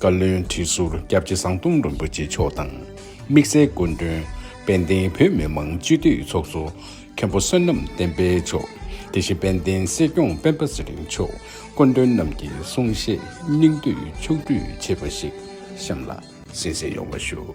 བཀའ་བློན་ཁྲི་ཟུར་སྐྱབས་རྗེ་ཟམ་གདོང་རིན་པོ་ཆེ་མཆོག་དང། དམིགས་བསལ་སྐུ་མགྲོན། དཔལ་ལྡན་བོད་མི་མང་སྤྱི་འཐུས་ཚོགས་གཙོ། མཁན་པོ་བསོད་ནམས་བསྟན་འཕེལ་མཆོག། དེ་བཞིན་དཔལ་ལྡན་སྲིད་སྐྱོང་སྤེན་པ་ཚེ་རིང་མཆོག་སྐུ་མགྲོན་རྣམས་ཀྱི་གསུང་བཤད་སྙིང་བསྡུས་མཆོག་སྤྲོད་བྱས་པ་ཞིག་གཤམ་ལ་གསན་བསྲིང་ཡོང་བ་ཞུ།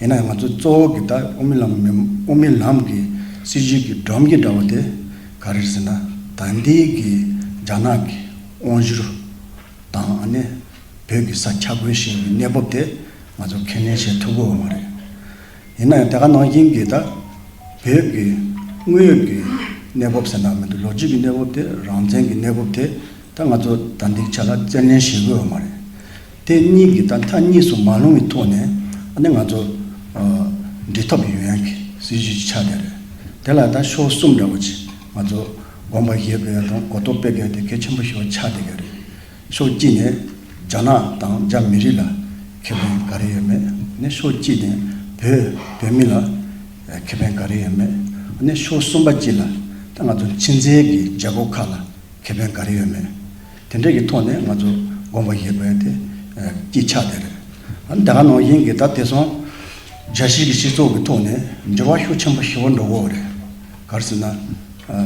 ཡིན་ནའང་ང་ཚོ་གཙོ་བོ་གི་ད་དབུ་མི་ལམ་མི་དབུ་མི་ལམ་གི་སྲིད་བྱུས་ཀྱི་སྒྲོམ་གྱི་འདྲ་བོ་དེ་ག་རེད་ཟེར་ན་ད་འདི་གི་རྒྱ་ནག་གི་དབང་བཞུར་དང་ཨ་ནེ་བོད་ཀྱི་ས་ཆ་རྒོལ་བཞིན་གྱི་གནས་བབ་དེ་ང་ཚོ་ཁས་ལེན་བྱེད་ཐུབ་དགོས་བ་མ་རེད། ཡིན་ནའང་དེ་ག་ནང་བཞིན་གི་ད་བོད་ཀྱི་དངོས་ཡོད་ཀྱི་གནས་བབ་ཟེར་ན་མི་འདུག་ལོ་རྒྱུས་ཀྱི་གནས་བབ་དེ་རང་བཙན་གྱི་གནས་བབ་དེ་ད་ང་ཚོ་ད་འདེགས་བྱ་ལ་བཙན་གནོན་བྱེད་དགོས་བ་མ་རེད། དེ་གཉིས་ཀྱི་ད་མཐའ་གཉིས་སུ་མ་ལྷུང་བའི་ཐོག་ནས་ནི་ང་ཚོ་འབྲེལ་ཐོབ་ཡོད་ཡང་གི་སྲིད་ཇུས་ཀྱི་ཆ་དེ་རེད། དེ་ལ་ད་ཤོག་གསུམ་འདྲ་བོ་ཆེ་ང་ཚོ་དགོངས་པ་བཞེས་པའི་རང་གོ་རྟོགས་སྤེལ་དགོས་དེ་གལ་ཆེན་པོ་ཞིག་བ་ཆ་དེ་ག་རེད། ཤོག་གཅིག་ནས་རྒྱ་ནག་དང་རྒྱ་མི་རིགས་ལ་ཁེ་ཕན་ག་རེ་ཡོད་མེད་ནི་ཤོག་གཅིག་ནས་བོད་བོད་མི་ལ་ཁེ་ཕན་ག་རེ་ཡོད་མེད་ནི་ཤོག་གསུམ་པ་གཅིག་ལ་ད་ང་ཚོ་ཕྱི་མཛེས་ཀྱི་རྒྱལ་པོ་ཁག་ལ་ཁེ་ཕན་ག་རེ་ཡོད་མེད་དེ་འདྲའི་གི་ཐོག་ནས་ང་ཚོ་དགོངས་པ་བཞེས་དགོས་དེ་སྐྱིད་ཆགས་དེ་རེད། དེ་ག་ནང་བཞིན་གི་ད་དེ་སོང་རྒྱ་ཤེས་ཀྱི་སྤྱི་ཚོགས་ཀྱི་ཐོག་ནས་འགྱུར་བ་ཤུགས་ཆེན་པོ་ཞི་བོ་འགྲོ་དགོས་རེད། གར་སེ་ན་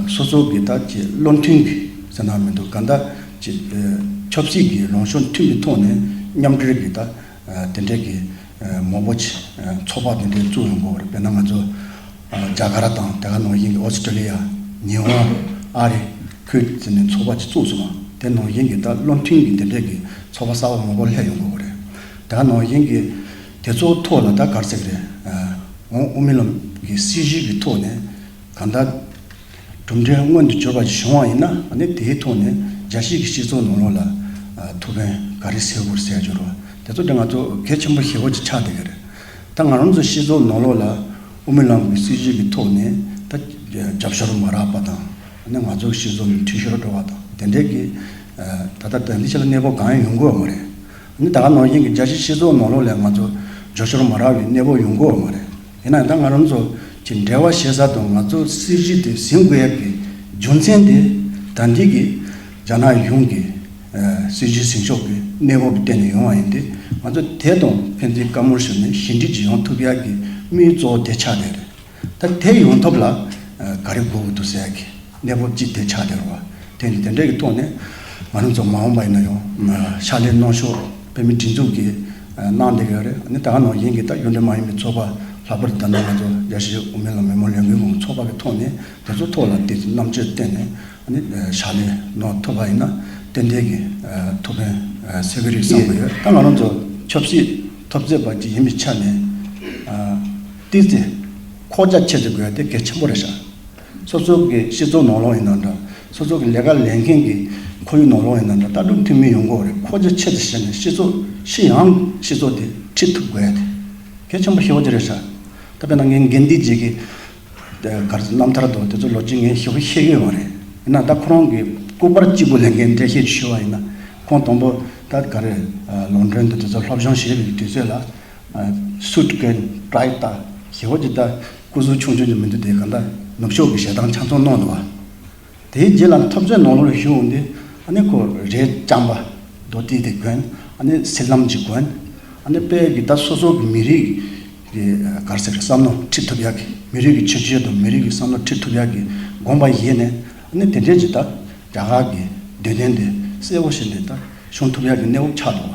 སོ་སོ་གི་ད་ཀྱི་བློ་མཐུན་གི་ཟེར་ན་མི་འདུག་ག་ད་ཀྱི་ཆབ་སྲིད་ཀྱི་ལངས་ཕྱོགས་མཐུན་གི་ཐོག་ནས་མཉམ་འབྲེལ་གི་ད་དེ་འདྲའི་གི། མོ་པོ་ཆེ་ཚོགས་པ་འདི་འདྲའི་བཙུགས་ཡོང་དགོས་པ་རེད་དཔེར་ན་ང་ཚོ་རྒྱ་གར་དང་དེ་ག་ནང་བཞིན་གྱི་ཨོ་སི་ཀྲི་ལི་ཡ། ཉི་ཧོང། ཨ་རི། ཁུལ་དེ་ཚོ་ནས་ཚོགས་པ་ཅིག་བཙུགས་སོང་བ་དེ་ནང་བཞིན་གྱི་ད་བློ་མཐུན་གྱི་འདི་འདྲས་ཀྱི་ཚོགས་པ་གསར་བ་མང་པོ་ལྷད་ཡོང་དགོས་པ་རེད། དེ་ག་ནང་བཞིན་གྱི་དེ་ཚོ་ཐོག་ལ་ད་གར་ཟེགས་རེད། འོང་མི་ལོ། གི་སྲིད་ཞིག་གི་ཐོག་ནས་གང་ལྟར། གྲུབ་འབྲས་མངོན་དུ་གྱུར་པ་ཞིག་བྱུང་བ་ཡིན་ན་ནི་དེའི་ཐོག་ནས་རྒྱལ་སྤྱིའི་སྤྱི་ཚོགས་ནང་ལོགས་ལ་ཐུགས་ཕན་ག་རེ་སེལ་དགོས་སེལ་རྒྱུར་དེ་ཚོ་དེ་ང་ཚོ་གལ་ཆེན་པོ་ཞེ་བོ་ཅིག་ཆགས་བསྡད་ཀྱི་རེད། ད་ང་རང་ཚོ་སྤྱི་ཚོགས་ནང་ལོགས་ལ་དབུ་མའི་ལམ་གྱི་སྲིད་བྱུས་ཀྱི་ཐོག་ནས་ད་རྒྱབ་ཤོར་མ་རག་པ་དང་ནི་ང་ཚོའི་སྤྱི་ཚོགས་ནི་འཐུས་ཤོར་འགྲོ་བ་དང་དེ་འབྲེལ་གྱི་ད་ལྟ་དོན་དེ་ཆེ་ལ་གནས་བབ་གང་ཡང་ཡོང་དགོས་བ་མ་རེད། ནི་ད་ག་ནང་བཞིན་གྱི་རྒྱལ་སྤྱིའི་སྤྱི་ཚོགས་ནང་ལོགས་ལས་ང་ཚོ་རྗོ་ཤོར་མ་རག་བའི་གནས་བབ་ཡོང་དགོས་བ་མ་རེད། ཡིན་ནའང་ད་ང་རང་ཚོ་གི་འབྲེལ་བ་ཤེས་ས་དང་ང་ཚོ་སྲིད་གཞི་དེ་ཟིན་དགོས་ཡབ་ཀྱི་རྒྱུ་མཚན་དེ་ད་འདི་གི་རྒྱ་ནག་གཞུང་གི་སྲིད་གཞི་ཟིན་ཕྱོགས་ཀྱི་གནས་བབ་བརྟེན་ནས་ཡོང་བ་ཡིན་ཏེ་ང་ཚོ་དེ་དང་ཕན་ཚུན་བཀའ་མོལ་ཞུ་ནས་ཞི་འགྲིག་ཅིག་ཡོང་ཐུབ་ཡག་གི་དམིགས་གཙོ་དེ་ཆགས་བསྡད་རེད་ད་དེ་ཡོང་ཐབས་ལ་ག་རེ་དགོས་ཀྱི་འདུག་ཟེར་ཡག་གི། གནས་བབ་ཅི་བདེ་ཆགས་བདེར་རོགས། དེ་ནི་དེ་འདྲས་ཀྱི་ཐོག་ནས་ང་རང་ཚོ་མ་འོངས་པ་ཡིན་ན་ཡང། ཕྱག་ལས་གནང་ཕྱོགས་བོད་མིའི་སྒྲིག་འཛུགས་ཀྱིས་གནང་བསྡད་ཀྱི་ཡོད་རེད། ད་ནངས་ཡིན་གྱི་ད་གཡུང་དྲུང་མ་ཡིན་པའི་ཚོགས་པ་ལྷག་པར་དུ་ད་ནངས་ང་ཚོ་རྒྱ་ཆེའི་དབུ་མའི་ལམ་མི་མང་ལས་འགུལ་ཁང་ཚོགས་པ་གི་ཐོག་ནས་དེ་ཚོ་ཐོག་ལ་དེ་རྣམ་དཔྱོད་བསྟེན་ནས་ཕྱག་ལས་གནང་ཐུབ་པ་ཡིན་ན་ཏན་ཏན་གྱི་ཐུགས་ཕན་སེལ་གྱི་རིགས་བསམ་གྱི་ཡོད། ད་ང་རང་ཚོ་ཆབ་སྲིད་ཐོབ་རྩེད་པ་ཅིག་ཡིན་པའི་ཆ་ནས། བསྟི་རྩེ། ཁོག་རྒྱ་ཕྱེ་རྩེ་དགོས་ཡ་དེ་གལ་ཆེན་པོ་རེད་ཤག། སོ་སོ་གི་སྤྱི་ཚོགས་ནོར་ལོག་ཡིན་ན་འདྲ། སོ་སོ་གི་ལས་ཀ་ལས་མཁན་གྱི་ཁོར་ཡུག་ནོར་ལོག་ཡིན་ན་འདྲ་ལྟ་གྲུབ་མཐུན་མིན་ཡོང་གོ་རེད་ཁོ་ཚོས་ཆེད་དུ་ཤེས་ནས་སྤྱི་ཚོགས་ཤི་ཡང་སྤྱི་ཚོགས་དེ་ཁྲིད་ཐུབ་དགོས་ཡ་དེ་གལ་ཆེན་པོ་ཤེས་བ་ཅི་རེད་ཤག་ད་པེ་ན་ངའི་འགན་འདི་བརྗེད་ཀྱི་གར་རྣམ་ཐར་དུ་དེ་ཚོ་ལོ་རྗེས་ངས་ཞུ་བ་ཤེས་གི་ཡོད་མ་རེད་ཡིན་ན་ད་ཁོ་རང་གི་སྐུ་པར་གཅིག་པུ་ལས་འགན་འགྲེལ་བཤད་ཞུ་བ་ཡིན་ན་ཁོང་དང་པོ་ད་ག་རེ་ལོང་འགྲོན་དུ་དེ་ཚོ་སློབ་སྦྱོང་བྱེད་པའི་དུས་ཚོད་ལ། Suit གི Try ལྟ་ཞེ་བ་ཅི་ལྟ། སྐུ་གཟུགས་ཆུང་ཆུང་གི་མི་འདུག་དེ་གང་འདྲ་ནུབ་ཕྱོགས་ཀྱི་ཞལ་ཐང་ཆ་མཚོན་གནང་འདུག་བ། དེའི་རྗེས་ལ་ཐོབ་རྩོད་ནང་ལོགས་རེ་ཞུ་འོང་དུས་ཨ་ནི་ཁོ་རེའི་བྱམས་པ་རྡོ་རྟིང་དེ་དགོན་ཨ་ནི་སེར་ལམ་གྱི་དགོན་ཨ་ནི་དཔལ་གྱི་ད་སོ་སོ་གི་མི་རིགས་ཀྱི་གར་ཟེར་བསམ་མནོ་ཁྲིད་ཐུབ་ཡག་གི་མི་རིགས་ཀྱི་ཆོས་བྱེད་དུ་མི་རིགས་ཀྱི་བསམ་མནོ་ཁྲིད་ཐུབ་ཡག་གི་དགོངས་པ་ཡེ་ནས་ཨ་ནི་དེ་འདྲས་ཀྱི་ད་རྒྱ་གར་གྱི་འདོད་དོན་དེ་གསལ་བོ་ཞིག་འདི་ད་ཤོང་ཐུབ་ཡག་གི་གནས་བབ་ཆགས་འདུག་བ།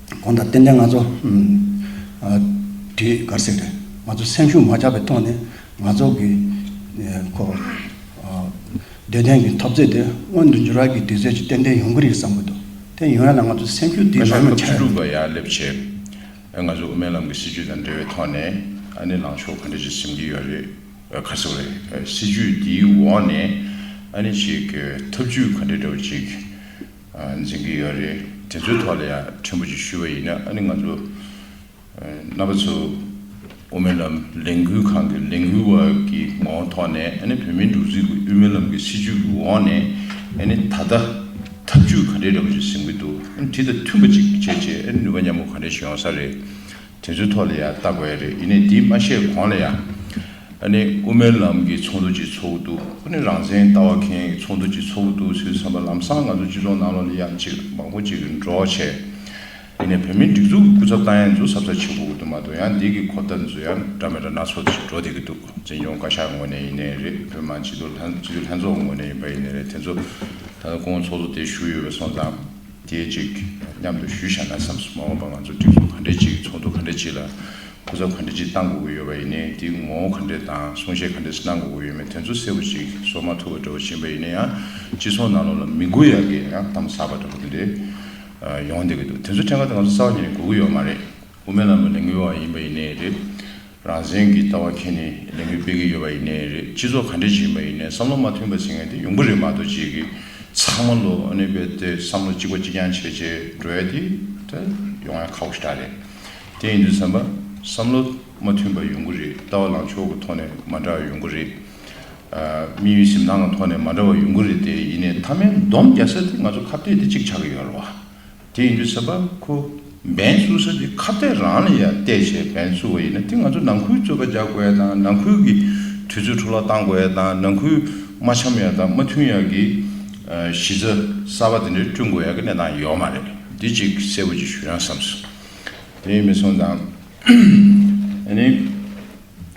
གོང་དང་རྟེན་འབྲེལ་ང་ཚོ་དེ་གར་གསལ་རེད། ང་ཚོ་སེམས་ཤུགས་མ་ཆག་པའི་ཐོག་ནས་ང་ཚོ་གི་ཁོ་བདེ་ལྡན་གྱི་འཐབ་རྩོད་དེ་སྔོན་དུ་འགྱུར་བར་གྱི་དུས་ཚོད་ཅིག་ཏན་ཏན་ཡོང་གི་རེད་བསམ་གྱི་འདུག་དེ་ཡོང་ཡ་ལ་ང་ཚོ་སེམས་ཤུགས་དེ་ནར་མ་ཆག་ཡ་ན། ཡར་སླེབས་ཆེད་ང་ཚོ་དབུ་མའི་ལམ་གྱི་སྲིད་ཇུས་དང་འབྲེལ་བའི་ཐོག་ནས་ནི་ལངས་ཕྱོགས་ག་འདྲ་ཞིག་འཛིན་གྱི་ཡོད་རེད་ཁ་གསལ་བོ་རེད། སྲིད་ཇུས་དེའི་འོག་ནས་ནི་ཅིག་ཐབས་ཇུས་ག་འདྲ་འདྲ་བོ་ཅིག། འཛིན་གྱི་ཡོད་རེད་དེ་ཚོའི་ཐོག་ལ་ཡང་ཕྲན་བུ་ཅིག་ཞུ་བ་ཡིན་ན་ཨ་ནི་ང་ཚོ་རྣམ་པ་ཚོ་དབུ་མའི་ལམ་ལས་འགུལ་ཁང་གི་ལས་འགུལ་བ་ཀྱི་ངོ་བོ་ཐོག་ནས་ཨ་ནི་བོད་མིའི་འགྲོ་འཛིན་གྱི་དབུས་མའི་ལམ་གྱི་སྲིད་བྱུས་ཀྱི་འོག་ནས་ཨ་ནི་ད་ལྟ་ཐབས་བྱུས་ག་འདྲས་རེད་པ་ཞིག་ཟིན་གྱི་འདུག་ཨ་ནི་དེ་དང་མཐུན་པ་ཅིག་བྱེད་ཆེད་ཨ་ནི་ནུས་པ་མཉམ་པོ་ག་འདྲས་ཞིག་ཡོང་ས་རེད། དེ་ཚོའི་ཐོག་ལ་ཡང་བརྟག་དགོས་ཡ་རེད་ཡིན་ནའི་དེ་མ་བཤད་གོང་ལ་ཡང། ཨ་ནི་དབུ་མའི་ལམ་གྱི་ཚོགས་འདུ་ཅིག་འཚོགས་ཀྱི་འདུག་ཨ་ནི་རང་བཙན་ལྟ་བ་མཁན་གྱི་ཚོགས་འདུ་ཅིག་འཚོགས་ཀྱི་འདུག་ཚོའི་བསམ་པ་ལམ་སང་ང་ཚོ་སྤྱི་ཚོགས་ནང་ལོག་ལ་ཡག་ཅིག་མང་པོ་ཅིག་འགྲོ་བྱས། ཡིན་ནའི་བོད་མིའི་སྒྲིག་འཛུགས་ཀྱི་སྐུ་ཚབ་ཏང་ཡང་འཛུགས་ཟབ་ས་ཆེ་པོ་འོག་ཏུ་མ་གཏོགས་ཡང་འདས་ཀྱི་གོ་བརྡ་མཛོད་ཡང་འདྲ་མི་འདྲ་སྣ་ཚོགས་ཅིག་འགྲོ་བསྡད་ཀྱི་འདུག་འཛིན་སྐྱོང་བཀའ་ཤག་ངོས་ནས་ཡིན་ནའི་རེད་བོད་མང་སྤྱི་འཐུས་ལྷན་ཚོགས་ངོས་ནས་ཡིན་པ་ཡིན་ནའི་རེད་དེ་ཚོ་ད་དུང་ཚོགས་གཙོ་དེ་བཞུགས་ཡོད་པ་སོང་ཙང། དེའི་ཅིག་མཉམ་དུ་ཞུས་བཞག་ན་བསམ་སོང་མ་འོངས་པ་ང་ཚོ་སྒྲིག་འཛུགས་ག་འདྲའི་ཅིག་ཚོགས་འདུ་ག་འདྲའི་ཅིག་ལ་གོ་ཚོགས་ག་འདྲའི་ཅིག་གཏང་དགོས་ཀྱི་ཡོད་པ་ཡིན་ནའི་དེའི་ངོ་བོ་ག་འདྲའི་དང་གསུང་བཤད་ག་འདྲའི་ཅིག་གནང་དགོས་ཀྱི་ཡོད་མེད་དོན་ཚོ་གསལ་བོ་ཅིག་བཟོ་མ་ཐུབ་པ་འདྲ་བོ་བྱིན་པ་ཡིན་ན་ཡང་སྤྱི་ཚོགས་ནང་ལོག་ལ་མི་མགོ་ཡག་གི་ཡང་གཏམ་ཟབ་པ་འདྲ་བོ་དེ་འདྲའི་ཡོང་བསྡད་ཀྱི་འདུག་དེ་ཚོ་ཕྲན་ག་དེ་ང་ཚོ་རྩ་བ་ཉིད་ནས་གོ་གི་ཡོད་མ་རེད། དབུ་མའི་ལམ་ལ་ལས་འགུལ་བ་ཡིན་པ་ཡིན་ནའི་རེད། རང་བཙན་གྱི་ལྟ་བ་མཁྱེན་ནས་ལས་འགུལ་སྤེལ་གྱི་ཡོད་པ་ཡིན་ནའི་རེད་སྤྱི་ཚོགས་ག་འདྲའི་བྱེད་ཀྱིན་པ་ཡིན་ནའི་བསམ་བློ་མ་མཐུན་པ་བྱེད་མཁན་དེ་ཡོང་གི་རེད་མ་གཏོགས་རྗེས་ཀྱི་ཚང་མ་ལོ་ནས་བལ་ཏེ་བསམ་བློ་གཅིག་པ་གཅིག་རྐྱང་བྱས་བྱས་འགྲོ་ཡ་དེ་ད་ཡོང་ཡ་ཁག་པོ་ཞིག་ད་རེད། དེ་ཡིན་དུས་བསམ་པ་བསམ་བློ་མ་མཐུན་པ་ཡོང་གི་རེད་ལྟ་བ་ལང་ཕྱོགས་ཀྱི་ཐོག་ནས་མ་འདྲ་བ་ཡོང་གི་རེད། དམིགས་ཡུལ་གཟིམ་ཐང་གི་ཐོག་ནས་མ་འདྲ་བ་ཡོང་གི་རེད་དེ་ཡིན་ནའི་མཐའ་མའི་འདོམས་རྒྱག་ས་དེ་ང་ཚོ་ཁ་བཏད་དེ་གཅིག་ཆགས་ཀྱི་ཡོད་རེད་བ། དེ་ཡིན་དུས་ཟེར་པ་ཁོ་འབེན་བཙུགས་ས་དེ་ཁ་གཏད་རང་ལ་ཡང་གཏད་བྱས་འབེན་བཙུགས་བ་ཡིན་ན་དེ་ང་ཚོ་ནང་ཁུལ་རྩོད་པ་རྒྱག་དགོས་ཡ་དང་ནང་ཁུལ་གྱི་དུས་ཚོད་འཕྲོ་བརླག་བཏང་དགོས་ཡ་དང་ནང་ཁུལ་མ་འཆམ་ཡ་དང་མ་མཐུན་ཡ་གི་གཞི་རྩ་གསར་པ་དེ་འདྲ་བསྐྲུན་དགོས་ཡ་གི་གནས་སྟངས་ཡོད་མ་རེད་འདི་གཅིག་གསལ་བོ་གཅིག་ཞུ་ཡང་བསམ་སོང་དེ་ཡིན་མི་སོང་དང་ཨ་ནི་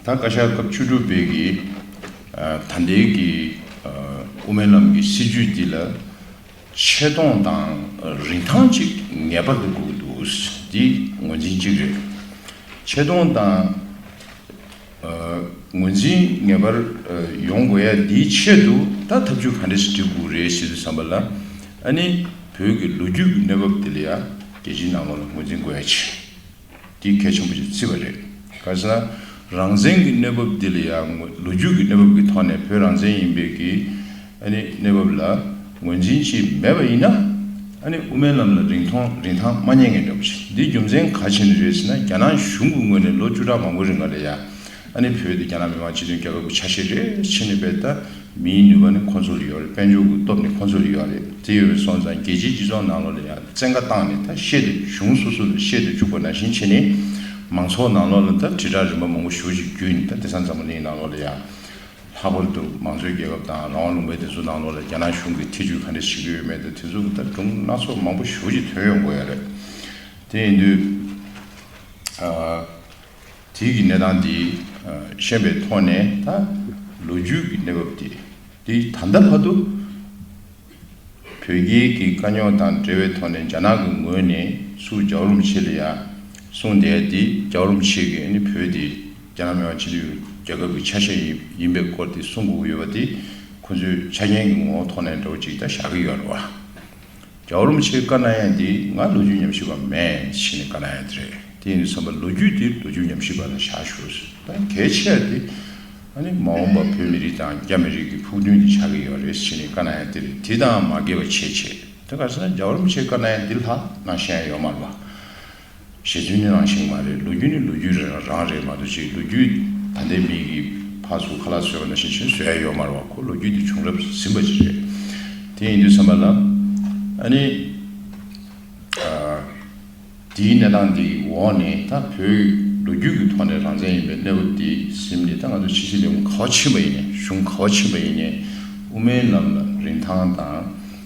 ད་བཀའ་ཤག་སྐབས་བཅུ་དྲུག་པའི་གི་ད་ལྟའི་གི་དབུ་མའི་ལམ་གི་སྲིད་བྱུས་འདི་ལ། ཆེ་མཐོང་དང་རིན་ཐང་གཅིག་ངེས་པར་དུ་འགུགས་འདུག་འདི་ངོས་འཛིན་གཅིག་རེད། ཆེ་མཐོང་དང་ངོས་འཛིན་ངེས་པར་ཡོང་དགོས་ཡ་འདིའི་ཆེད་དུ་ད་ཐབས་ཇུས་ག་འདྲ་ཞིག་བྲི་དགོས་རེད་ཞེས་བསམ་པ་ལ་ཨ་ནི་བོད་ཀྱི་ལོ་རྒྱུས་ཀྱི་གནས་བབ་འདི་ལ་ཡ་རྒྱལ་སྤྱིའི་ནང་ལོགས་ལ་ངོས་འཛིན་དགོས་ཡ་ཆེ། འདི་གལ་ཆེན་པོ་ཞིག་བརྩི་བ་རེད། གལ་སྲིད་ན། རང་བཙན་གྱི་གནས་བབ་འདི་ལ་ཡང་ལོ་རྒྱུས་ཀྱི་གནས་བབ་ཀྱི་ཐོག་ནས་བོད་རང་བཙན་ཡིན་པའི་ཀྱི་གནས་བབ་ལ་ངོས་འཛིན་བྱེད་མེད་པ་ཡིན་ན། དབུ་མའི་ལམ་ལ་རིང་ཐང་རིན་ཐང་མ་རྙེད་ངེས་འདྲ་པོ་ཞིག་འདི་རྒྱུ་མཚན་ག་ཆེན་རེད་ཟེར་ན་རྒྱ་ནག་གཞུང་གི་ངོས་ནས་ལོ་བཅུ་ཕྲག་མང་པོའི་རིང་ག་ལ་ཡ། ཨ་ནི་བོད་དེ་རྒྱ་ནག་མི་མང་སྤྱི་མཐུན་རྒྱལ་ཁབ་ཀྱི་ཆ་ཤས་རེད་ཕྱི་ནས་བལྟ་ན་མིའི་ནུས་པ་ནི་ཁོ་ཚོ་ལ་ཡོད་རེད་དཔལ་འབྱོར་གྱི་སྟོབས་ནི་ཁོ་ཚོ་ལ་ཡོད་རེད་དེ་ཡོད་པས་སོང་ཙང་རྒྱལ་སྤྱིའི་སྤྱི་ཚོགས་ནང་ལོགས་ལ་ཡང་བཙན་བཀའ་བཏང་ནས་ད་བཤད་དེ་གཞུང་སོ་སོ་ལ་བཤད་དུ་བཅུག་པ་ནང་བཞིན་བྱས་ནས་མང་ཚོགས་ནང་ལོགས་ལ་ད་དྲིལ་བསྒྲགས་རིམ་པ་མང་པོ་ཞུ་བྱེད་རྒྱུ་ནི་ད་དེ་སང་འཛམ་བུ་གླིང་ནང་ལོགས་ལ་ཡང་ལྷག་པར་དུ་མང་གཙོའི་རྒྱལ་ཁབ་དང་རང་དབང་ལུང་པའི་དེ་ཚོ་ནང་ལོགས་ལ་རྒྱ་ནག་གཞུང་གིས་ཐེ་ཇུས་ག་འདྲ་བྱེད་ཀྱི་ཡོད་མེད་ད་དེ་ཚོ་གི་ད་སྒྲུང་སྣ་ཚོགས་མང་པོ་ཞུ་བྱེད་དོན་ཡོང་དགོས་ཡ་རེད་དེ་ཡིན་དུས། དུས་ཀྱི་གནས་སྟངས་དེ་ཤེས་པའི་ཐོག་ནས་ད་ལོ་རྒྱུས་ཀྱི་གནས་བབ་དེ་དེ་ད་ལྟ་བར་དུ་བོད་རྒྱལ་གྱི་དཀའ་རྙོག་དང་འབྲེལ་བའི་ཐོག་ནས་རྒྱ་ནག་གི་ངོས་ནས་སུ་ཇག་རུམ་ཆེ་ལ་ཡ་གསུངས་དེ་དེ་ཇག་རུམ་ཆེ་གི་ནི་བོད་དེ་རྒྱ་ནག་མི་དམངས་སྤྱི་མཐུན་རྒྱལ་ཁབ་ཀྱི་ཆ་ཤས་ཡིན་པའི་སྐོར་དེ་གསུངས་དགོས་ཀྱི་ཡོད་པ་དེ་ཁོ་ཚོའི་ཆ་རྐྱེན་གྱི་ངོ་བོ་ཐོག་ནས་འདྲ་བོ་ཅིག་ད་བཞག་གི་ཡོད་རེད་བ། རྒྱ་བོར་རློམ་ཆེ་དཀར་ནག་ཡན་དེ་ང་ལོ་རྒྱུས་ཉམས་ཞིབ་པ་མེད་ཕྱིན་ནས་དཀར་ནག་ཡན་དེ་རེད་དེ་ཡིན་དུ་བསམ་པ་ལོ་རྒྱུས་དེ་ལོ་རྒྱུས་ཉམས་ཞིབ་པ་ལ་བཞག་ཞོར་ད་གལ་ཆེར་དེ་མ་འོངས་པ་བོད་མི་རིགས་དང་རྒྱ་མི་རིགས་ཀྱི་ཕུགས་འདུན་དེ་ཆགས་ཀྱི་ཡོད་རེད་ཕྱིན་ནས་དཀར་ནག་ཡན་དེ་རེད་དེ་དང་མ་འགལ་བ་ཆེས་ཆེ་ད་ག་ས་ན་རྒྱ་བོར་རློམ་ཆེ་དཀར་ནག་ཡན་དེ་ལྷག་ན་གཞན་ཡོད་མ་རེད་པ། ཞེས་དུས་ནི་རང་ཞིག་མ་རེད་ལོ་རྒྱུས་ནི་ལོ་རྒྱུས་རང་རེད་མ་འདུག་ཅིག་ལོ་རྒྱུས་ད་ལྟའི་མི་གི་ཕ་སུ་ཁ་ལག་བཟོས་པ་ན་ཤེས་ཤེས་བཟོས་ཡ་ཡོད་མ་རེད་བ་ཁོ་ལོ་རྒྱུས་དེ་བྱུང་རབས་ཟིན་པ་ཅིག་རེད་དེ་ཡིན་དུས་བསམ་པ་ན་ཨ་ནི་དེའི་གནས་སྟངས་འདི་འོག་ནས་ད་བོད་ལོ་རྒྱུས་ཀྱི་ཐོག་ནས་རང་བཙན་ཡིན་པའི་གནས་བབ་འདི་གཟིམ་ནས་ད་ང་ཚོ་ཕྱི་སྲིད་ལས་ཁུངས་ག་བ་ཕྱིན་པ་ཡིན་ནས་གཞུང་ག་བ་ཕྱིན་པ་ཡིན་ནས་དབུ་མའི་ལམ་ལ་རིན་ཐང་དང།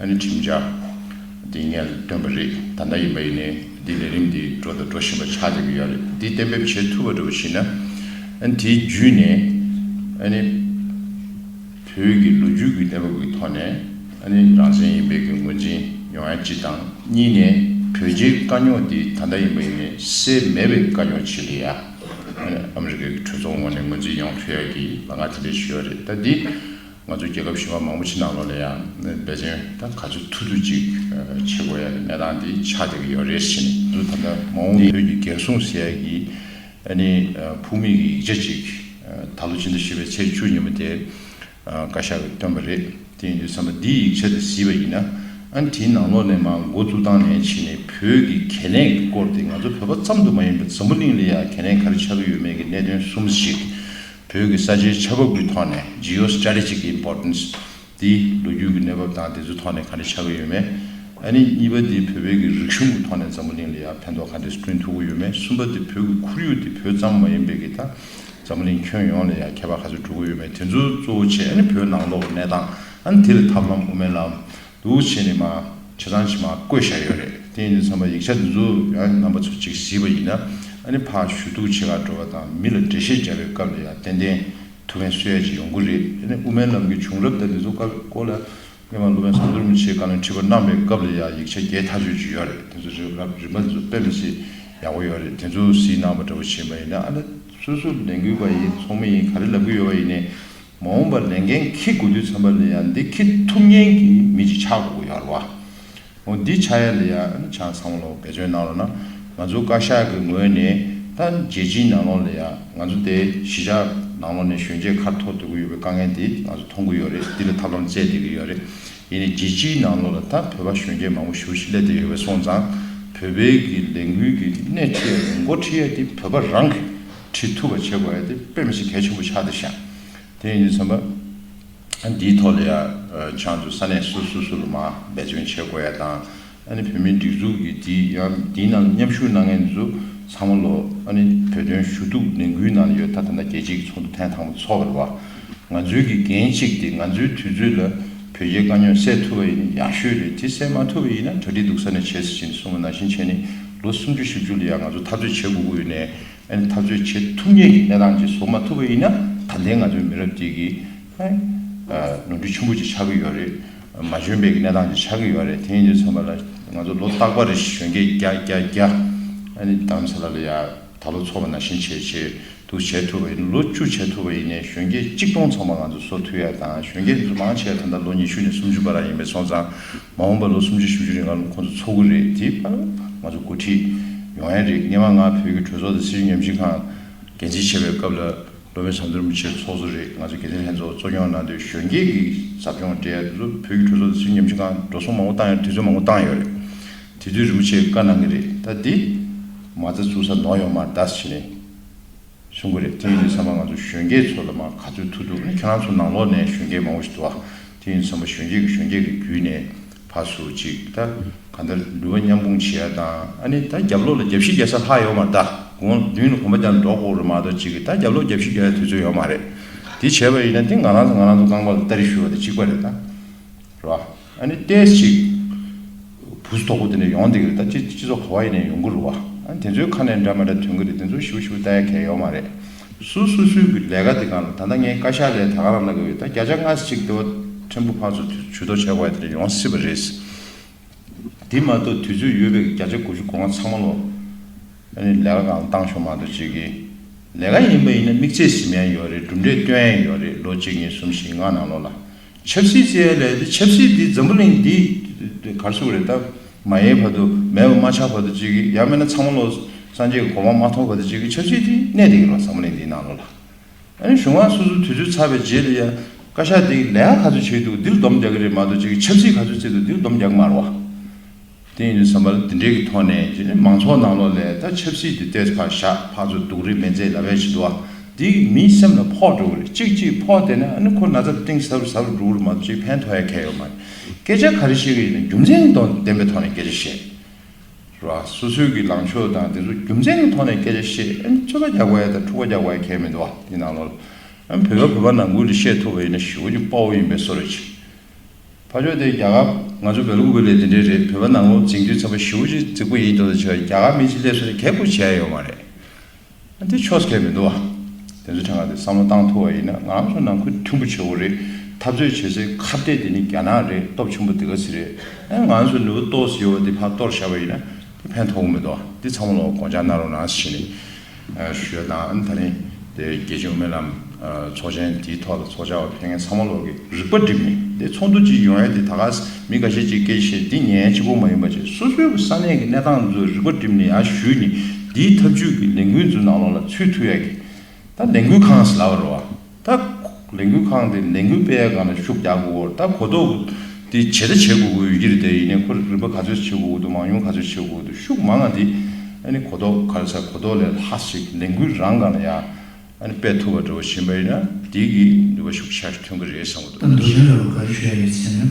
ཨ་ནི་ཁྲིམས་འཆར་འདི་ངས་བཏོན་པ་རེད་ད་ལྟ་ཡིན་པ་ཡིན་ནས་འདི་ལས་རིམ་འདི་འགྲོ་དང་འགྲོ་བཞིན་པ་ཆགས་བསྡད་ཀྱི་ཡོད་རེད་འདི་གཏན་འབེབས་བྱེད་ཐུབ་པ་འགྲོ་བ་ཞིག་ན་ཨ་ནི་དེའི་བརྒྱུད་ནས་ཨ་ནི་བོད་ཀྱི་ལོ་རྒྱུས་ཀྱི་གནས་བབ་ཀྱི་ཐོག་ནས་ཨ་ནི་རང་བཙན་ཡིན་པའི་ངོས་འཛིན་ཡོང་ཡ་གཅིག་དང་གཉིས་ནས་བོད་རྗེའི་དཀའ་རྙོག་འདི་ད་ལྟ་ཡིན་པ་ཡིན་ནས་སེལ་མེད་པའི་དཀའ་རྙོག་ཆེ་གི་ཡ་ཨ་ནི་ཨ་མི་རི་ཀའི་གྲོས་ཚོགས་ངོས་ནས་ངོས་འཛིན་ཡོང་ཐུབ་ཡ་གི་ལ་ང་དེ་འདྲས་ཞུ་ཡ་རེད་ད་འདི། ང་ཚོའི་རྒྱལ་ཁབ་གཞོན་པ་མང་པོ་ཕྱི་ནང་ལོགས་ལས་ཡང་འབད་བརྩོན་དང་ག་ཚོད་ཐུབ་ཐུབ་ཅིག་བྱེད་དགོས་ཡ་ལེ་གནས་སྟངས་འདི་ཆགས་བསྡད་ཀྱི་ཡོད་རེད་བཞིན་དུ་ད་ལྟ་མ་འོངས་བོད་ཀྱི་འགན་སྲུང་ཟེར་ཡ་གི་ཨ་ནི་ཕུགས་མེད་ཀྱི་ཡིག་ཆ་ཅིག་ད་ལོ་ཕྱི་ཟླ་བཞི་པའི་ཚེས་བཅུ་ཉིན་མོ་དེ་བཀའ་ཤག་གིས་བཏོན་པ་རེད་དེ་ཡིན་དུས་བསམ་པ་འདིའི་ཡིག་ཆ་དེ་བཟི་བ་ཡིན་ན་ཨ་ནི་དེའི་ནང་ལོགས་ནས་མ་མགོ་བཙུགས་སྟངས་ནས་ཕྱིན་ནས་བོད་ཀྱི་གལ་གནད་ཀྱི་སྐོར་དེ་ང་ཚོ་བོད་པ་ཙམ་དུ་མ་ཡིན་པར་འཛམ་བུ་གླིང་ལ་ཡང་གལ་གནད་ག་རེ་ཆགས་ཀྱི་ཡོད་མེད་ཀྱི་གནད་དོན་གསུམ་ཞིག་བོད་ཀྱི་ས་ཆའི་ཆ་བབ་ཀྱི་ཐོག་ནས Geostrategic Importance དེ་ལོ་རྒྱུས་ཀྱི་གནས་བབ་དང་དེ་ཚོའི་ཐོག་ནས་ག་འདྲ་ཆགས་ཀྱི་ཡོད་མེད་ཨ་ནི་གཉིས་པ་དེ་བོད་པའི་གི་རིག་གཞུང་གི་ཐོག་ནས་འཛམ་བུ་གླིང་ལ་ཡང་ཕན་ཐོག་ག་འདྲས་སྐྲུན་ཐུབ་ཀྱི་ཡོད་མེད་གསུམ་པ་དེ་བོད་ཀྱི་ཁོར་ཡུག་དེ་བོད་ཙམ་མ་ཡིན་པའི་གི་ད་འཛམ་བུ་གླིང་ཁྱོན་ཡོངས་ལ་ཡང་ཁྱད་པར་ག་ཚོད་གྲུབ་ཀྱི་ཡོད་མེད་དེ་ཚོ་གཙོ་བོ་ཆེ་ཨ་ནི་བོད་ནང་ལོག་གི་གནས་སྟངས་ཨ་ནི་དེ་ལ་ཐབས་ལམ་དབུ་མའི་ལམ་འདུ་བྱེད་ནི་མ། བྱེ་ཐང་ཕྱི་མ་བཀོད་བཞག་ཡོད་རེད་དེ་ཡིན་དུས་ཚང་མ་ཡིག་ཆ་འདི་ཚོ་ཡང་རྣམ་པ་ཚོ་གཅིག་བཟི་བ་ཡིན་ན་ཨ་ནི་ཕ་ཞུ་གཏུག་བྱེད་ཁག་འགྲོ་བ་དང་མི་ལ་འགྲེལ་བཤད་རྒྱག་པའི་སྐབས་ལ་ཡང་ཏན་ཏན་ཐུགས་ཕན་གསོས་ཡ་ཅིག་ཡོང་གི་རེད་ཨ་ནི་དབུ་མའི་ལམ་གྱི་བྱུང་རབས་དང་འདི་ཚོ་ཀ་ཀོ་ལ་སྨན་མ་ལོ་མས་བཟང་བསྡུར་མི་བྱེད་གང་ལེན་ཁྲི་པ་གནང་པའི་སྐབས་ལ་ཡང་ཡིག་ཆ་བརྒྱད་ཐག་གཅོད་ཅིག་ཡོད་རེད་དེ་ཚོ་རེད་རབ་རིམ་པ་འདི་ཚོ་དཔེ་མི་སྲིད་ཡག་པོ་ཡོད་རེད་དེ་ཚོ་བཟི་གནང་བ་འདྲ་བོ་བྱེད་མ་ཡིན་ན་ཨ་ནི་སོ་སོ་ལས་འགུལ་བ་ཡིན་ཚོགས་མི་ཡིན་ག་རེ་ལབ་གི་ཡོད་བ་ཡིན་ནས་མ་འོངས་པར་ལས་འགན་འཁྱིལ་དགོས་དུས་ཚན་པ་ལས་ཡ་འདི་འཁྱིལ་ཐུབ་ཉེན་གྱི་མི་ཅིག་ཆགས་དགོས་ཡོད་རེད་བ། འོ་འདི་ཆགས་ཡ་ལས་ཡ་ཆ་ཚང་ལོ་བེད་སྤྱོད་གནང་རོགས་གནང། ང་ཚོ་བཀའ་ཤག་གི་ངོས་ནས་ད་རྒྱལ་སྤྱིའི་ནང་ལོག་ལས་ཡ་ང་ཚོ་དེ་གཞི་ཆགས་ནང་ལོག་ནས་གཞོན་སྐྱེས་ཁར་ཐོག་སྡོད་དགོས་ཡོད་པའི་དཀའ་ངལ་དེ་ང་ཚོ་མཐོང་གི་ཡོད་རེད་འདི་ལ་ཐབས་ལམ་བཙལ་བསྡད་ཀྱི་ཡོད་རེད། ཡིན་ནས་རྒྱལ་སྤྱིའི་ནང་ལོག་ལ་ད་བོད་པ་གཞོན་སྐྱེས་མང་པོ་ཞུགས་སླད་བསྡད་ཡོད་པས་སོང་ཙང་བོད་པའི་གི་ལས་འགུལ་གྱི་སྣེ་ཁྲིད་ཡ་ཡོད་མགོ་ཁྲིད་ཡ་དེ་བོད་པ་རང་གི་ཁྲིད་ཐུབ་པ་བྱེད་དགོས་ཡ་དེ་དཔེ་མི་སྲིད་གལ་ཆེན་པོ་ཆགས་འདུག་ཤག་དེ་ཡིན་དུས་ཚང་མ་འདིའི་ཐོག་ལ་ཡང་ཆང་དུ་ས་གནས་སོ་སོ་སོ་ལ་མ་འབད་བརྩོན་བྱེད་དགོས་ཡ་དང་ཨ་ནི་བོད་མིའི་སྒྲིག་འཛུགས་ཀྱི་འདི་ཡང་འདི་ནང་མཉམ་ཞུགས་གནང་མཁན་དེ་ཚོ་ཚང་མ་ལོ་ཨ་ནི་བོད་དོན་ཞུ་གཏུག་ལས་འགུལ་ནང་ལ་ཡོད་ད་ཐ་ན་རྒྱལ་སྤྱི་གི་ཚོགས་འདུ་ཐེངས་དང་པོ་ཚོགས་པར་བ་ང་ཚོའི་གི་འགན་གཅིག་དེ་ང་ཚོའི་དུས་ཚོད་ལ་བོད་རྒྱའི་དཀའ་རྙོག་སེལ་ཐུབ་པ་ཡིན་ན་ཡག་ཤོས་རེད་དེ་སེལ་མ་ཐུབ་པ་ཡིན་ན་གྲ་སྒྲིག་སྡུག་ས་ནས་བྱེད་སྲིད་ཅིང་སོང་བ་ན་བཞིན་བྱས་ནས་ལོ་སུམ་ཅུ་བཞི་བཅུ་ལ་ཡང་ང་ཚོ་འཐབ་རྩོད་བྱེད་དགོས་ཀྱི་ཡོད་ནས། ཨན་ད་གཟོད་བྱེད་ཐུབ་ངེས་ཀྱི་གནས་སྟངས་ཅིག་བཟོ་མ་ཐུབ་པ་ཡིན་ན་ད་ལྟའི་ང་ཚོའི་མི་རབས་ཅིག་གིས་ནོར་འཁྲུལ་ཆེན་པོ་ཅིག་ཆགས་ཀྱི་ཡོད་རེད། མ་འཇོན་པའི་གནས་སྟངས་ཅིག་ཆགས་ཀྱི་ཡོད་རེད་དེ་ཡིན་ཚོད་མ་ལ་ང་ཚོ་ལོ་རྟག་པར་རེ་ཞིག་གཞོན་སྐྱེས་རྒྱ་རྒྱ་རྒྱ་ཨན་དམ་ས་ལ་ལ་ཡ་ད་ལོ་འཚོ་བ་ན་བཞིན་བྱས་བྱས་འདུག་བྱས་ཐུབ་པ་ཡིན་ན་ལོ་བཅུ་བྱས་ཐུབ་པ་ཡིན་ནས་གཞོན་སྐྱེས་གཅིག་སྟོང་ཚང་མ་ང་ཚོ་སོ་ཐུ་ཡ་དང་གཞོན་སྐྱེས་ཚོ་མང་ཆེ་བ་ད་ལྟ་ལོ་ཉི་ཤུ་ནས་སུམ་ཅུ་བར་རག་ཡིན་པས་སོང་ཙང། མ་འོངས་པར་ལོ་སུམ་ཅུ་བཞི་བཅུ་རིང་ང་ལོ་ཁོ་ཚོ་ཚོགས་ཀྱི་རེད་དེའི་བར་ང་ཚོ་འགོ་ཁྲིད་ཡོང་ཡ་རེད་སྙེ་མ་ང་བོད་ཀྱི་གྲོས་ཚོགས་དང་སྲིད་གཞུང་ཉམས་ཞིབ་ཁང་འགན་འཛིན་བྱེད་པའི་སྐབས་ལ་ལོ་མི་ཟམ་དོར་མི་ཆེ་ཚོགས་གཙོ་རེད་ང་ཚོ་འགན་འཛིན་ལྷན་ཚོགས་གཙོ་སྐྱོང་གནང་དུས་གཞོན་སྐྱེས་ཀྱི་ཟབ་སྦྱོང་སྤྲད་ཡ་དེ་ཚོ་བོད་ཀྱི་གྲོས་ཚོགས་དང་སྲིད་གཞུང་ཉམས་ཞིབ་ཁང་འགྲོ་སོང་མང་པོ་བཏང་ཡ་དུས་ཚོད་མང་པོ་བཏང་ཡོད་རེད་དེ་དུས་རིན་པོ་ཆེས་བཀའ་གནང་གི་རེད་ད་འདི་མ་རྩ་བཙུགས་ས་ནོར་ཡོང་མ་གདའ་ཟེར་ནས། གསུང་གི་རེད་དེ་ཡིན་དུས་ཚང་མ་ང་ཚོ་གཞོན་སྐྱེས་ཚོ་ལ་མ་ག་ཚོད་ཐུག་འདུག་ཁྱེད་རང་ཚོ་ནང་ལོག་ནས་གཞོན་སྐྱེས་མང་བོ་ཞིག་འདུག་ཨ་དེ་ཡིན་དུས་ཚང་མ་གཞོན་སྐྱེས་ཀྱི་གཞོན་སྐྱེས་ཀྱི་བརྒྱུད་ནས་བར་སུ་གཅིག་ད་ག་འདྲ་འདུལ་བ་མཉམ་སྤུངས་བྱེད་ཡ་དང་ཨ་ནི་ད་རྒྱབ་ལོག་ལ་རྒྱབ་ཤི་རྒྱག་ས་ལྷག་ཡོག་མ་ད་དགུང་ལ་བདུན་ལ་གོམ་པ་རྒྱག་ན་འདྲོག་ཀོག་རེད་མ་གཏོགས་གཅིག་གིས་ད་རྒྱབ་ལོག་རྒྱབ་ཤི་རྒྱག་ཡ་དུས་ཚོད་ཡོག་མ་རེད་དེ་བྱས་པ་ཡིན་ན་དེ་ང་རང་ཚོ་ང་རང་ཚོ་རྐང་པ་ལ་སྟ་རི་ཞུ་བ་དེ་གཅིག་པ་རེད་ད། རེད་བ། ཨ་ནི་ལྟས་ཤིག། བུ་ཟོ་དོག་པོ་དེ་འདྲ་ཡོང་འདེགས་རེད་ད་ཅི་ཅི་ཟོ་ག་བ་ཡི་ནས་ཡོང་གི་རུ་བ། ཨ་དེ་ཚོའི་ཁ་ནས་འདྲ་མ་འདྲ་ཐོན་གི་རེད་དེ་ཚོ་ཞི་བོ་ཞི་བོ་ལྟ་ཡ་གལ་ཡོ་མ་རེད། སུ་སུ་སུའི་གི་ལས་ཀ་དེ་གང་རུ་ད་ལྟ་ངའི་བཀའ་ཤག་ལས་ད་ག་རང་གནང་གི་ཡོད་ད་བརྒྱ་ཆ་ལྔ་ཅིག་ལྟེ་བ་ཕྲན་བུ་ཕག་ཚོ་དུས་ཚོད་དོ་ཆ་ག་བ་ཡི་དེ་འདྲ་ཡོང་སྲིད་པ་རེད། དེ་མ་གཏོགས་དུས་ཚོད་ཡོད་པའི་གི་བརྒྱ་ཆ་དགུ་བཅུ་གོ་ལྔ་ཚང་མ་ལོ། ཨ་ནི་ལས་ཀ་གང་བཏང་ཤོག་མ་གཏོགས་བྱེད་གི། ལས་ཀ་ཡིན་པ་ཡིན་ན་དམིགས་ཚད་གཟིམ་ཡ་ཡོད་རེད་གྲུབ་འབྲས་སྟོན་ཡ་ཡོད་རེད་ལོ་གཅིག་གཉིས་གསུམ་བཞི་ལྔ་ནང་ལོ་ལ། ཆབ་སྲིད་བཙལ་ཡ་ལས་ཆབ་སྲིད་འདི་འཛམ་བུ་གླིང་འདི་གར་ཚུགས་རེད་ད། མ་ཡེ་བར་དུ་མེད་པ་མ་ཆགས་བར་དུ་ཅིག་གི་ཡང་མེད་ན་ཚང་མ་བློ་སངས་རྒྱས་ཀྱི་གོ་འཕང་མ་མཐོང་བར་དུ་ཅིག་གི་ཆབ་སྲིད་འདི་གནས་བསྡད་ཀྱི་རོགས་འཛམ་བུ་གླིང་འདིའི་ནང་ལོགས་ལ། ཨ་ནི་གཞུང་བ་སོ་སོ་དུས་ཚོད་ཚར་བའི་རྗེས་ལ་ཡང་བཀའ་ཤག་འདི་ལས་ཀ་ག་ཚོད་བྱས་འདུག་འདིར་སྡོམ་རྒྱག་གི་རེད་མ་གཏོགས་ཅིག་གི་ཆབ་སྲིད་ག་ཚོད་བཙལ་འདུག་འདིར་སྡོམ་རྒྱག་མ་རུ་བ། དེ་ཡིན་ཟེར་བ་ལ་དེ་འབྲེལ་གྱི་ཐོག་ནས་ཇི་ནི་མང་ཚོགས་ནང་ལོགས་ལས་ད་ཆབ་སྲིད་དུ་གཏད་ཚ་བཞག་ཕག་ཚོ་སྡུག་རེ་མེད་མཛེས་ལ་བས་བྱེད་འདུག་ཨ་འདི་མིའི་སེམས་ལ་ཕོག་འགྲོ་གི་རེད་ཅིག་ཅིག་ཕོག་བསྡད་ན་ཨ་ནི་ཁོ་ན་ཚ་གཏིང་ཟབ་རུ་ཟབ་རུ་འགྲོ་གི་རེད་མ་གཏོགས་ཅིག་ཕན་ཐོགས་ཡ་གལ་ཡོད་མ་རེད་སྐད་ཆ་ག་རེ་བཤད་གི་ཡོད་ན་རྒྱུ་མཚན་གྱི་ཐོག་ལྡན་པའི་ཐོག་ནས་སྐད་ཆ་བཤད་རོགས་ཨ་སོ་སོའི་གི་ལངས་ཕྱོགས་དང་དེ་ཚོ་རྒྱུ་མཚན་གྱི་ཐོག་ནས་སྐད་ཆ་བཤད་ཨ་ནི་རྩོད་པ་རྒྱག་པ་ཡ་དང་འཁྲུག་པ་རྒྱག་པ་ཡ་གལ་མི་འདུག་ཨ་འདི་ནང་ལོགས་ལ་ཨ་བོད་པ་བོད་པ་ནང་ཁུལ་དུ་བཤད་ཐུབ་པ་ཡིན་ན་ཞི་བ་གྱི་དཔའ་བོ་ཡིན་པའི་སོ་རེད་ཅིག་ཕ་ཆོས་དེ་རྒྱ་གར། ང་ཚོ་བོད་ལུགས་འགོས་ལས་དེ་འདྲའི་རེད་བོད་པ་ནང་ལོག་འཛིང་རྒྱུ་ཚབ་པ་ཞི་བོ་ཅི་རྫིག་པོ་ཡིན་འདུག་ད་ཆ་རྒྱ་གར་མི་ཅི་སླེབས་སོ་དེ་གད་བགོས་བྱས་ཡོད་མ་རེད་དེ་ཆོས་སྐད་མི་འདུག་བ་དེ་ཚོ་དེ་འགའ་དེ་བསམ་བློ་བཏང་ཐུབ་བ་ཡིན་ན་ང་ཚོ་ནང་ཁུལ་མཐུན་པོ་བྱེད་དགོས་རེད་འཐབ་རྩོད་བྱེད་སའི་ཁ་བརྡའི་དེ་ནི་རྒྱ་ནག་རེད་སྟོབས་ཆེན་པོ་དེ་ག་ཚི་རེད་ཨེ་ང་ཚོ་ནུ་བོ་ཏོས་ཡོད་བ་དེ་ཕར་གཏོར་བཞག་པ་ཡིན་ན་དེ་ཕན་ཐོག་གི་མི་འདུག་བ་འདི་ཚང་མ་ལོག་གོང་ཆག་ནང་རོ་ནང་ཞི་ནི། ཞོལ་དང་ཨན་ཐ་ནི་དེ་རྒྱལ་སྤྱིའི་དབུ་མའི་ལམ་ཚོགས་ཆེན་དེའི་ཐོག་ལ་ཚོགས་བྱ་བར་ཕན་ངེས་ཚང་མ་ལོག་གི་རིག་པ་བསྒྲིམས་ནས་དེ་ཚོགས་འདུ་གཅིག་ཡོང་ཡ་དེ་ད་ག་ཟེ་མི་ག་ཤེད་ཅིག་སྐད་ཆེ་འདི་ངའི་གཅིག་པོ་མ་ཡིན་པ་བཅས་སོ་སོའི་གི་ས་གནས་ཀྱི་གནས་སྟངས་ཚོའི་རིག་པ་བསྒྲིམས་ནས་ཡ་ཞུས་ནས་དེའི་ཐབས་ཇུས་ཀྱི་ལས་འགུལ་ཚོའི་ནང་ལོག་ལ་ཚུད་ཐུབ་ཡ་གི་ད་ལས་འགུལ་ཁང་ཟེ་ལབ་བར་རོ། ད་ལས་འགུལ་ཁང་དེ་ལས་འགུལ་སྤེལ་ཡག་གང་ལ་ཤུགས་རྒྱག་དགོས་སྐོར་ད་གོ་རྟོགས་དེ་ཇི་ལྟ་བྱེད་དགོས་དགོས་ཡོད་ཀྱི་རེད་དེ་ཡིན་ནས་ཁོ་རིམ་པ་ག་ཚོད་བྱེད་དགོས་དགོས་འདུག་མང་ཉུང་ག་ཚོད་བྱེད་དགོས་འདུག་ཤུགས་མང་ང་དེ་གོ་རྟོགས་ག་རེ་ས་གོ་རྟོགས་ལས་ལྷག་ཞིག་ལས་འགུལ་རང་གང་ལ་ཡག་སྤེལ་ཐུབ་པ་འགྲོ་བཞིན་པ་ཡིན་ན་དེ་གི་ནུས་པ་ཤུགས་ཆག་ཐོན་གྱི་རེད་བསམ་གྱི་འདུག། ད་འདུག་གཞན་ལ་བ་ག་རེ་བྱས་ཡོད་ཟེར་ན།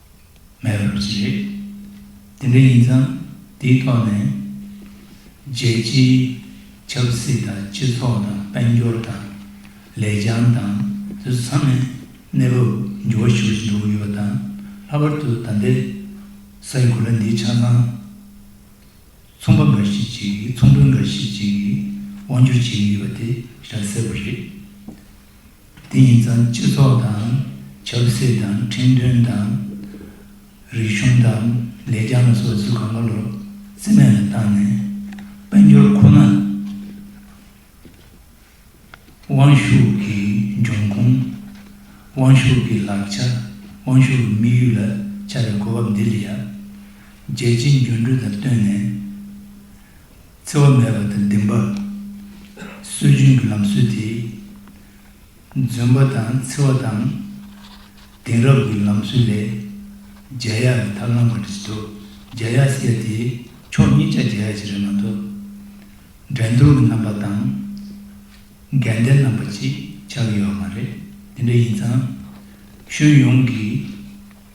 མེད་པར་བྱེད། དེ་འདྲ་ཡིན་ཙང་དེའི་ཐོག་ནས། རྒྱལ་སྤྱིའི་ཆབ་སྲིད་དང་སྤྱི་ཚོགས་དང་དཔལ་འབྱོར་དང། ལེགས་བྱང་དང་དུད་ཚང་ནས་གནས་བབ་འགྱུར་བ་ཞུ་བཞིན་འདུག་ཡོད་པ་དང་ལྷག་པར་དུ་ད་ལྟའི་ས་འགུལ་ལ་འདི་ཆ་ཚང་ཚོང་པ་འགའ་ཞིག་ཅིག་གིས་ཚོང་དཔོན་འགའ་ཞིག་ཅིག་གིས་དབང་བསྒྱུར་བྱེད་ཀྱི་ཡོད་པ་དེ་ཤ་གསལ་བོ་རེད། དེ་ཡིན་ཙང་སྤྱི་ཚོགས་དང་ཆབ་སྲིད་དང་ཁྲིམས་མཐུན་དང། རིག་གཞུང་དང་ལས་རྐྱང་ལ་སོགས་ཚུལ་གང་ག་ལོར་རྩིས་མེད་ལ་བཏང་ནས་དཔལ་འབྱོར་ཁོ་ན་དབང་ཤུགས་ཀྱི་འབྱུང་ཁུངས། དབང་ཤུགས་ཀྱི་ལག་ཆ་དབང་ཤུགས་ཀྱི་དམིགས་ཡུལ་ལ་བྱ་བའི་གོ་བབ་འདི་ལ་ཡབ་རྗེ་སྤྱི་འགྱུར་འབྲུ་དང་བསྟུན་ནས། འཚེ་བ་མེད་པ་དང་བདེན་པ། སྲོལ་རྒྱུན་གྱི་ལམ་སྲོལ་དེས། འཛོན་པ་དང་འཚེ་བ་དང། དེང་རབས་ཀྱི་ལམ་སྲོལ་ལས། རྒྱལ་ཡག་གི་ཐབས་ལམ་ག་རེ་བྱེད་དོ། རྒྱལ་ཡག་ཟེར་ཡ་དེ་ཕྱོགས་གཉིས་ཆ་རྒྱལ་ཡག་ཅིག་རེད་མ་གཏོགས། འགྲན་སྡུར་གྱི་རྣམ་པ་དང། འགལ་ཟླའི་རྣམ་པ་ཅིག་ཆགས་ཡོད་པ་མ་རེད། དེ་འདྲ་ཡིན་ཙང། ཁྱོན་ཡོངས་ཀྱི།